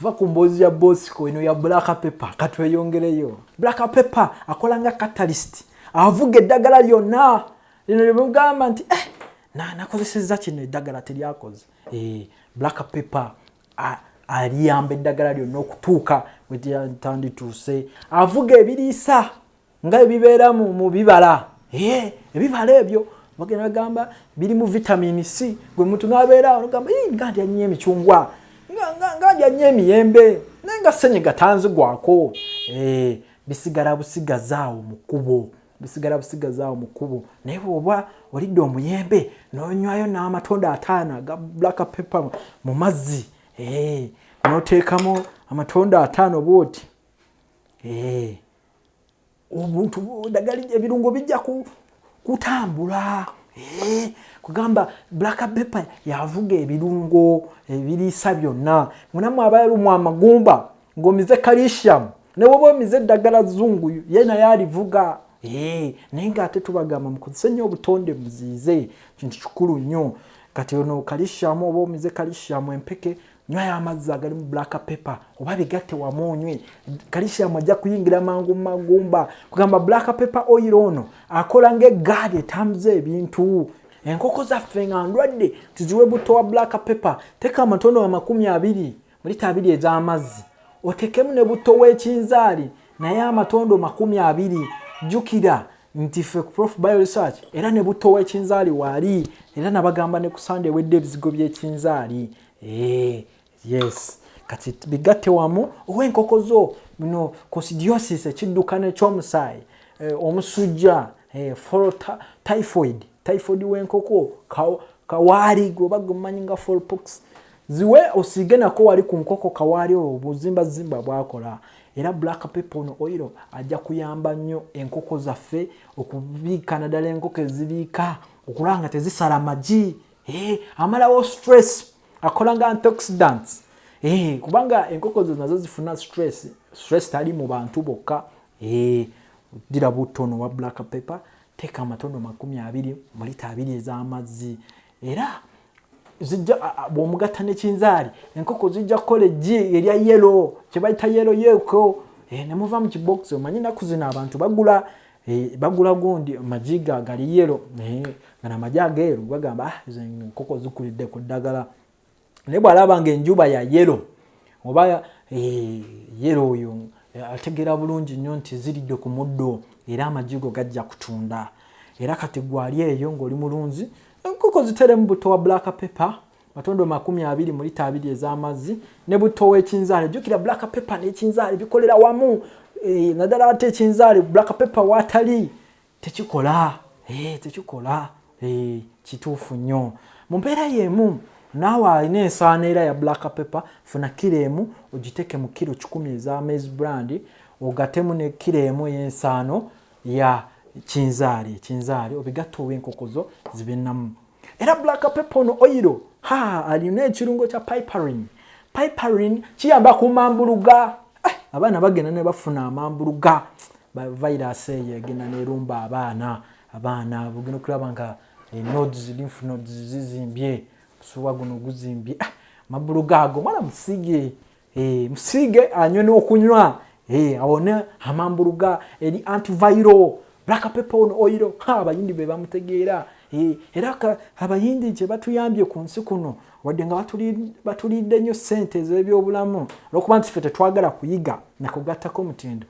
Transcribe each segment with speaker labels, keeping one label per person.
Speaker 1: va ku mboozi ya bosco eno ya black paper katweyongereyo black paper akola nga catalyst avuga eddagala lyonna lino lyemugamba nti eh, nakozeseza kino eddagala teryakoze eh, black paper aliyamba eddagala lyonna okutuuka wetandituuse avuga ebiriisa nga ebibeera mu bibala eh, ebibala ebyo bagenda bagamba biri mu vitamini c gwe muntu nabeera ogamba nga ndya nnyo emicungwa nga ndya nnyo emiyembe naye nga senyi gatanzigwako eh, bisigala busigazaawo mu kkubo bisigala busigazaawo mu kkubo naye bwoba olidde omuyembe nonywayo n'amatunda ataano aga black pepper mu mazzi eh, noteekamu amatunda ataano bwoti eh, obuntu dagali ebirungo bijja kutambula eh, kugamba black pepper yavuga ebirungo ebiriisa byonna munamu abayalumwa amagumba ng'omize calcium newoba omize eddagala zungu ye naye alivuga eh, naye ngaate tubagamba mukozese nnyo obutonde muziize kintu kikulu nnyo kati ono kalishamu oba omize kalishamu empeke nywayo amazzi agalimu black paper oba bigatte wamu onywe kalishiamu ajja kuyingira mangu mumagumba kugamba black paper oil ono akola nga egaadi etambuza ebintu enkoko zaffe nga ndwadde tuziwe butto wa black paper teka amatono amakumi abiri mulita abiri ez'amazzi otekemu ne butto w'ekinzaali naye amatondo makumi abiri jjukira nti fe ku prof bio research era ne butto w'ekinzaali waali era nabagamba ne ku sande ewedde ebizigo by'ekinzaali Eh, yes kati bigatte wamu owa enkoko zo no cosidiosis ekiddukano ekyomusaayi eh, omusujja eh, folo typhoid typhoid wenkoko kawaali gweoba gwemanyi nga folpox ziwe osiige nako wali ku nkoko kawaali oyo obuzimbazimba bwakola era black pepper ono oil ajja kuyamba nnyo enkoko zaffe okubiika naddala enkoko ezibiika okulaba nga tezisala magi hey, eh, amalawo stress akola nga antioxidants hey, eh, kubanga enkoko zo nazo zifuna stress stress tali mu bantu bokka hey, eh, dira butono wa black paper teeka amatondo makumi abiri mulita abiri ez'amazzi era zijja bwomugatta nekinzaali enkoko zijja kukola eggi erya yelo kyebayita yelo yeko eh, nemuva mu kibokisi omanyi enaku zino abantu bagula Eh, bagula gundi magi ga gali yelo eh, nga namagi ageeru bagamba ah, enkoko zikulidde ku ddagala naye bwalaba nga enjuba ya yelo oba eh, yelo oyo ategeera bulungi nnyo nti ziridde ku muddo era amajigo gajja kutunda era kati gwali eyo ngaoli mulunzi enkoko ziteremu buto wa black paper matondo makumi abiri mu lita abiri ez'amazzi ne butto w'ekinzaali jjukira black pepper n'ekinzaali bikolera wamu eh, naddala ate ekinzaali black pepper waatali tekikola eh, tekikola eh, kituufu nnyo mu mbeera y'emu naawe alina ensaana era ya black pepper funa kiro emu ogiteeke mu kiro kikumi eza maize brand ogatemu ne kiro emu ey'ensaano ya kinzaali ekinzaali obigatta ow'enkokozo zibe namu era black pepper ono oyiro ha alina ekirungo kya piperin piperin kiyamba ku mambuluga eh, abaana bagenda ne bafuna amambuluga virus eyo egenda nerumba abaana abaana bugenda okulaba nga eh, nodes lymph nodes zizimbye omusuwa guno guzimbye ah, amambuluga ago mwana musige Eh, musiige anywe n'okunywa eh, awone amambuluga eri antivairo black paper on oil abayindi be bamutegeera eh, era abayindi gye batuyambye ku nsi kuno wadde nga batulidde nnyo ssente ez'ebyobulamu olwokuba nti ffe tetwagala kuyiga nakugattako omutindo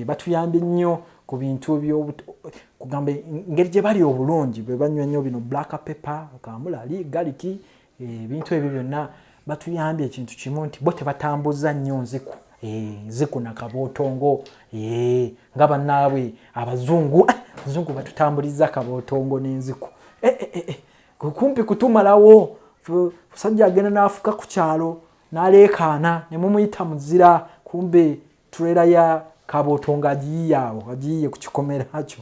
Speaker 1: batuyambye nnyo ku bintu byokugamba engeri gye bali obulungi bwe banywa nnyo bino black paper kamulali galiki ebintu ebyo byonna batuyambye ekintu kimu nti bo tebatambuza nnyo nziku eh, nziku nakabootongo eh, nga banaabwe abazungu eh, abazungu batutambuliza kabootongo n'enziku kumpi kutumalawo musajja agenda n'afuka ku kyalo n'aleekaana ne mumuyita muzira kumbe trailer ya kaboto nga agiyiye awo agiyiye ku kikomera kyo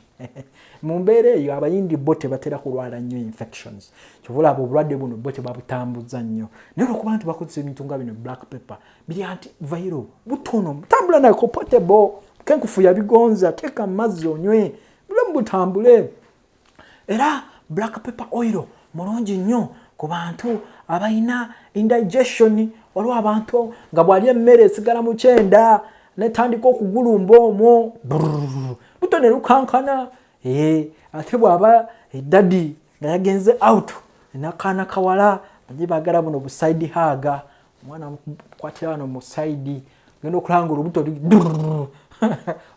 Speaker 1: mu mbeera eyo abayindi bo tebatera kulwala nnyo infections kyova olaba obulwadde buno bo tebabutambuzza nnyo naye olwokuba nti bakozesa ebintu nga bino black paper biri anti vairo butono mutambula nako potable kenkufu yabigonza teeka mu mazzi onywe bulamu butambule era black paper oil mulungi nnyo ku bantu abalina indigestion waliwo abantu nga bwali emmere esigala mu kyenda netandika okugulumba omwo luto ne lukankana eh, ate bw'aba edadi eh, nga yagenze out nakaana kawala naye bagala buno buside haga mwana mukwatira wano mu saidi genda okulanga olubuto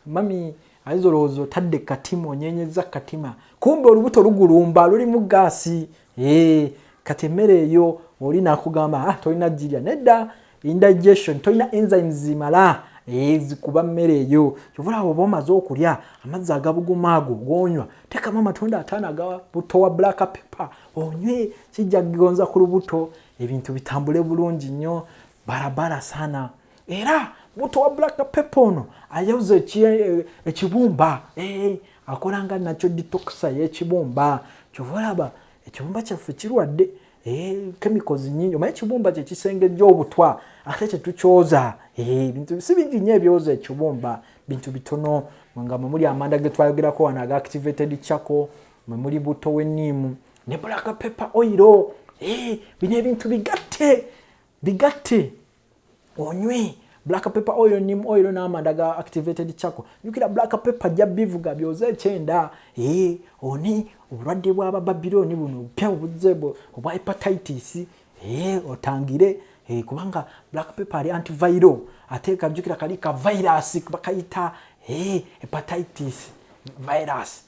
Speaker 1: mami ayinza olowooza otadde katima onyenyeza katima kumbe olubuto lugulumba lulimu gaasi ee kati emmere eyo oli nakugamba ah, tolina jirya nedda indigestion tolina enzymes zimala ezikuba mmere eyo kyovulaba oba omaze okulya amazzi agabuguma ago gonywa tekamu amatunda ataano aga butto wa black pepper onywe kijja kugonza ku lubuto ebintu bitambule bulungi nnyo barabara sana era muto wa black pepper ono ayauza eh, ekibumba eh, akolanga nakyo ditoxa yekibumba kyova olaba ekibumba kyaffe kirwadde chemicals eh, nyingi omanyi ekibumba kyekisengejja obutwa ate kyetukyoza ebintu si bingi nyo ebyoza ekibumba bintu bitono nga mwemuli amanda getwayogerako wano aga activated chako mwemuli buto weniimu ne bulaka pepa oyiro eh, bino ebintu bigatte bigatte onywe black pepper oil nim oil n'amanda ga activated chako jukira black pepper ajja bivuga byoze ekyenda ee eh, oni obulwadde bwaba babiloni buno obupya obuzze obwa hepatitis ee eh, otangire ee eh, kubanga black pepper ali antiviral ate kajukira kali ka virus bakayita ee hepatitis virus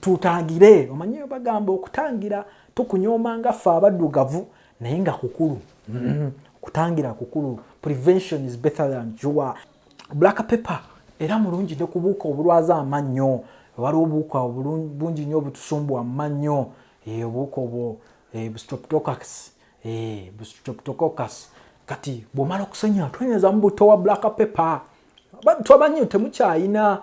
Speaker 1: tutangire omanyi bagamba okutangira tukunyooma nga ffe abaddugavu naye nga kukulu mm-hmm. okutangira kukulu prevention is better than jua black paper era mulungi ne kubuuka obulwaza amannyo waliwo obuuka bungi nnyo obutusumbu amannyo eh, obuuka obwo eh, bustroptococcus eh, bustroptococcus kati bwomala okusenya twenyezamu buto wa black paper twabanyo temukyayina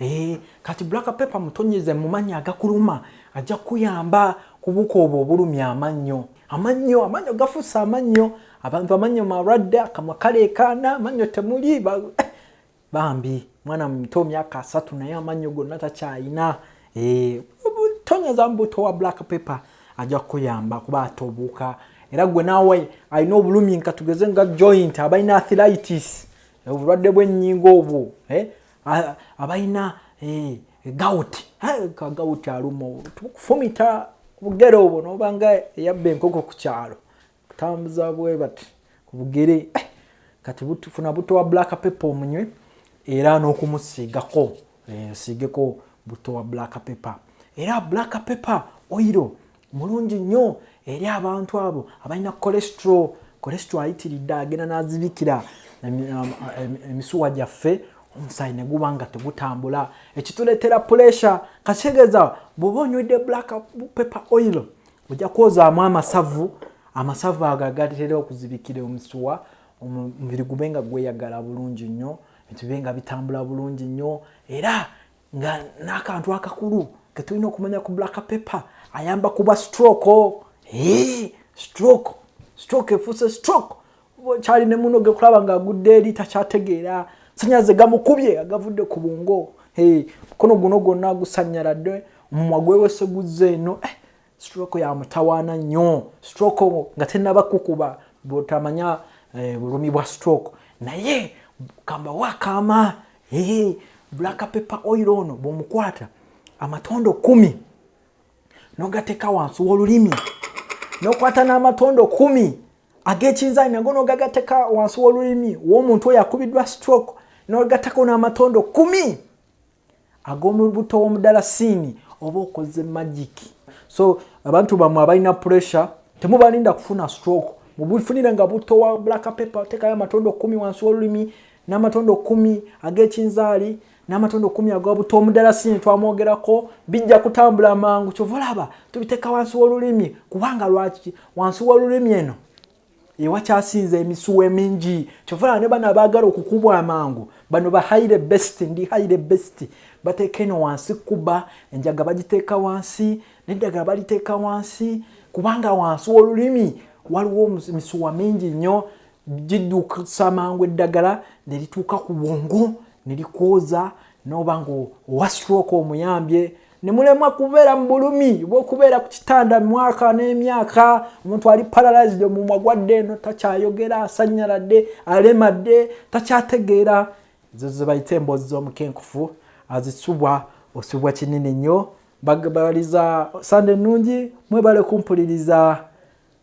Speaker 1: Eee, eh, kati black pepper mutonyeze mumanyi agakuluma ajja kuyamba kubuka obwo obulumi amannyo amannyo amannyo gafusa amannyo abantu amannyo malwadde akamwa kaleekaana amannyo temuli eh, bambi mwana muto myaka asatu naye amannyo gonna takyayina eh, tonyeza mbuto wa black pepper ajja kukuyamba kuba atobuuka era gwe naawe alina obulumi nka tugeze nga joint abalina athilitis obulwadde bw'ennyingo obwo abalina eh, gawuti ka gawuti aluma kufumita obugere obwo nobanga eyabba enkoko ku kyalo kutambuza bwe bati ku bugere eh, kati funa buto wa black paper omunywe era n'okumusiigako eh, osiigeko buto wa black paper era black paper oiro mulungi nnyo eri abantu abo abalina kolesitro kolesitro ayitiridde agenda n'azibikira emisuwa gyaffe omusaayi ne guba nga tegutambula ekituleetera pulesha kakitegeeza bw'oba onywedde black paper oil ojja kwozaamu amasavu amasavu ago agatera okuzibikira omusuwa omubiri gube nga gweyagala bulungi nnyo ebibe nga bitambula bulungi nnyo era nga n'akantu akakulu ke tulina okumanya ku black paper ayamba kuba stroke hey, eh, stroke stroke efuuse stroke kyali ne muno gekulaba nga agudde eri takyategeera sanyaze gamukubye agavudde ku bungo hey, eh, mukono guno gwonna gusanyaladde omumwa gwewese guzze eno eh, stroke ya mutawaana nnyo stroke nga tenaba kukuba botamanya eh, bulumi bwa stroke naye kamba wakama hey, eh, black pepper oil ono bwomukwata amatondo kumi nogateka wansi wolulimi nokwata n'amatondo kumi ag'ekinzani nago nogagateka wansi wolulimi womuntu oyo akubiddwa stroke nogatako n'amatondo kumi ag'omulubuto w'omudalasiini oba okoze magiki so abantu bamwe abalina pressure temubalinda kufuna stroke mubufunire nga butto wa black paper otekayo amatondo kumi wansi wolulimi n'amatondo kumi ag'ekinzaali n'amatondo kumi aga butto omudalasini twamwogerako bijja kutambula mangu kyova olaba tubiteeka wansi w'olulimi kubanga lwaki wansi w'olulimi eno ewakyasinza emisuwa emingi kyovala ne bano abaagala okukubwa amangu bano ba haire best ndi haire best bateeka eno wansi kuba enjaga bagiteeka wansi neddagala baliteeka wansi kubanga wansi w'olulimi waliwo emisuwa mingi nnyo gidduusa mangu eddagala ne lituuka ku bwongo ne likwoza n'oba nga owa stroke omuyambye ne mulemwa kubeera mu bulumi bwokubeera ku kitanda mwaka n'emyaka omuntu ali paralysed omumwa gwadde eno takyayogera asanyaladde alemadde takyategeera ezo zebayita emboozi z'omukenkufu azisubwa osubwa kinene nnyo bagabaliza sande ennungi mwebale kumpuliriza